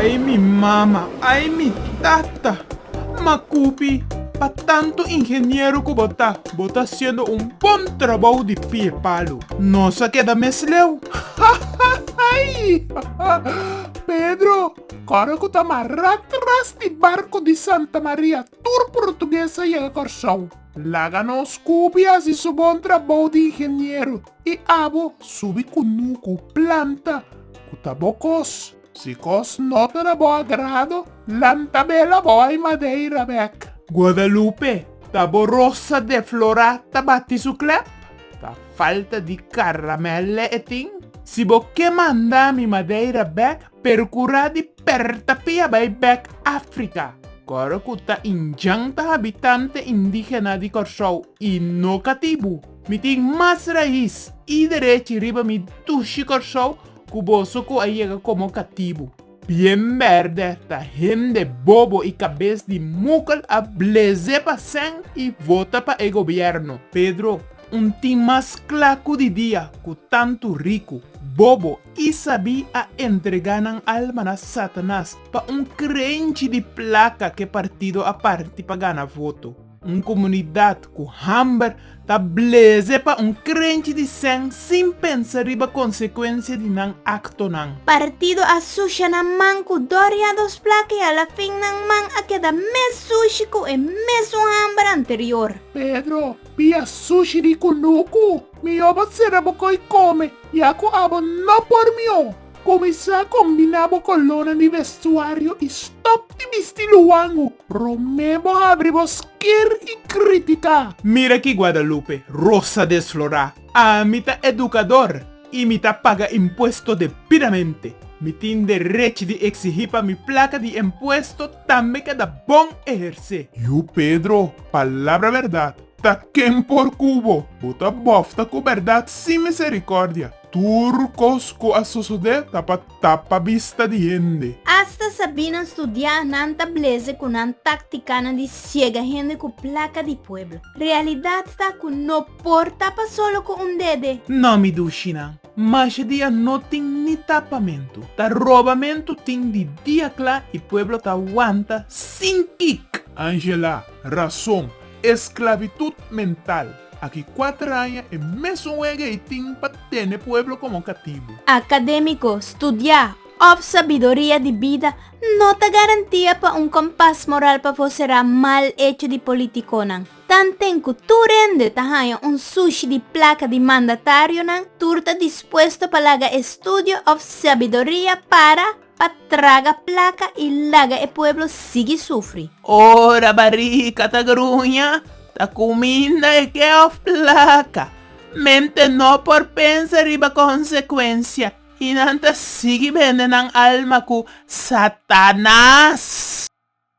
Ay mi mama, ay mi tata! Makupi, pa tantu ingeniero ku bo ta, bo ta hasiendo un bon trabou di pia e palu. Nos a keda mes leu. Pedro, kòrda ku ta mará tras di barku di Santa Maria tur portugues a yega Kòrsou. Laga nos kubi asi su bon trabou di ingeniero i abo subi kunu ku planta ku ta bo kos. Si kos no ta na bo agrado, lanta bela bo ai madeira bek. Guadalupe, Ta bo rosa deflorá ta bati su klèp? Ta falta di karamèl e tin? Si bo ke manda mi madeira bek, Percura di perta pia bay bek Africa, coro cu ta inyanta habitante indigena di Corsou y no catibu. Mi tin mas raiz y derech riba mi dushi Corsou cu boso cu a yega como catibu. Bien berde ta hende bobo y cabes di mukel a bleze pa sen y vota pa e gobierno. Pedro, un tin mas cla cu di dia cu tantu ricu, bobo i sabí a entregá nan alma na Satanas pa un krenchi di plaka ku e partido a parti pa gana voto, un komunidat ku hamber ta bleze pa un krenchi di sèn sin pensa riba konsekuensia di nan aktonan. Partido a susha nan man ku Doria dos plaka i alafin nan man a keda mes sushi ku e mesun hamber anterior. Pedro, pia sushi di kunuku! Mihó bo sera bo koi kome, ya ku abo no por mihó. Kuminsá kombiná bo kolónan di vestuario i stòp di bisti luangu. Promé bo habri bo skir i kritiká. Mira ki Guadalupe, rosa desflorá, Ami ta edukador i mi ta paga impuesto debidamente. Mi tin derech di eksigí pa mi plaka di impuesto tambe keda bon ehersé. Yu Pedro, palabra bèrdat! Ta ken por kubo? Bo ta bofta ku bèrdat sin miserikòrdia. Tur kos ku a sosodé ta pa tapa bista di hende. Asta Sabinan studiá nan ta bleze ku nan táktikanan di siega hende ku plaka di pueblo. Realidat ta ku no por tapa solo ku un dede. Nòmi dushinan. Masha dia no tin ni tapamentu. Ta robamentu tin di dia kla i pueblo ta wanta sin kik. Angela, Rason, esclavitud mental. Aki kuater aña e mes un wege i tin pa tene pueblo komo katibu. Akademiko, Studiá òf sabidoria di bida no ta garantia pa un kompas moral pafó será mal echo di politikonan. Tanten ku tur rende ta haña un sushi di plaka di mandatarionan, tur ta dispuesto pa laga e studio òf sabiduria para pa traga plaka i laga e pueblo sigui sufri. Ora barika ta gruña, ta kuminda e ke òf plaka. Mente no por pensa riba konsekuensia i nan ta sigui bende nan alma ku Satanas.